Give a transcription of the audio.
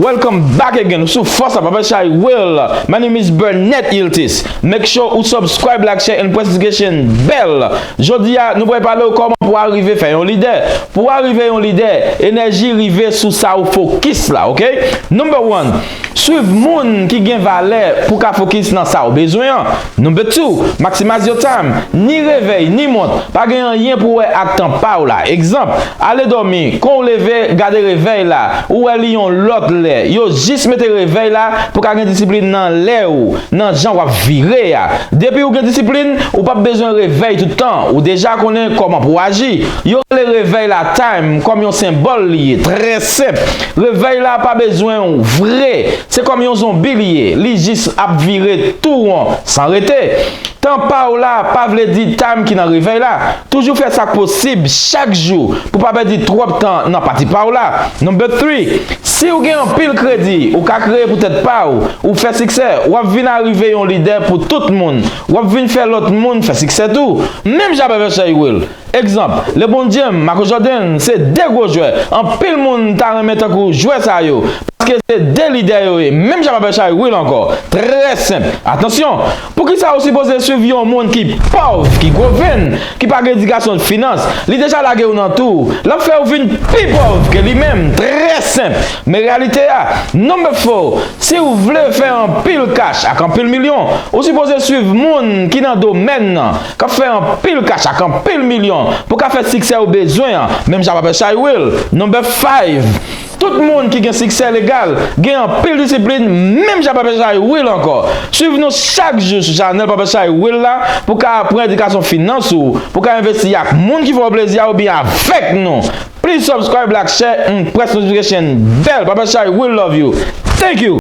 Welcome back again ou sou fòs la papa chay will my name is Burnett Iltis make sure ou subscribe like share and press notification bell jodi a nou pral pale ou kòman pou arive fè yon lidè pou arive yon lidè enèji rive sou sa ou fokis la ok number one Swiv moun ki gen valè pou w ka fokis nan sa ou bezwen an. Number two, maximize your time. Ni revèy, ni mont, pa gen anyen pou wè ak tan pa w la. Egzanp, ale dòmi, kon w leve, gade revèy la, ou wè li yon lòt lè. Yo jis mete revèy la pou w ka gen disiplin nan lè ou, nan jan w ap vire a. Depi ou gen disiplin, ou p ap bezwen revèy tout tan, ou deja konnen kòman pou w aji. Yo rele revèy la time kòm yon senbòl li ye, trè senp. Revèy la pa bezwen w vre, se kòm yon zonbi li ye, li jis ap vire tou won san rete. Tan pa w la pa vle di time ki nan revèy la. Toujou fè sa k posib chak jou pou pa pèdi twòp tan nan pati pa w la. Number three, Si w gen anpil kredi, ou ka kreye pou tèt pa w, ou fè siksè, w ap vin arive yon lidè pou tout moun, w ap vin fè lòt moun fè siksè tou. Menm jan avè Versailles Will. Egzanp, Lebron James, Marco Jordan se 2 gwo jwè anpil moun ta renmen tankou jwè sa yo paske se 2 lidè yo ye menm jan m avè Chay Will ankò trè senp atansyon poukisa ou sipoze swiv yon moun ki pòv ki gwo venn ki pa gen edikasyon finans li deja lage ou nan tou l ap fè ou vin pi pòv ke li menm trè senp men reyalite a number 4 si ou vle fè anpil kach ak anpil milyon ou sipoze swiv moun ki nan domèn nan K ap fè anpil kach ak anpil milyon pou ka fè siksè ou bezwen an, menm jan Pape Chay Will, Number 5. Tout moun ki gen siksè legal gen anpil disiplin menm jan Pape Chay Will ankò. Swiv nou chak jou sou chanèl Pape Chay Will la pou ka aprann edikasyon finans ou, pou ka envesti ak moun ki fè w plezi a oubyen avèk nou. Please subscribe like share and press notification bell Pape Chay Will love you. Thank you!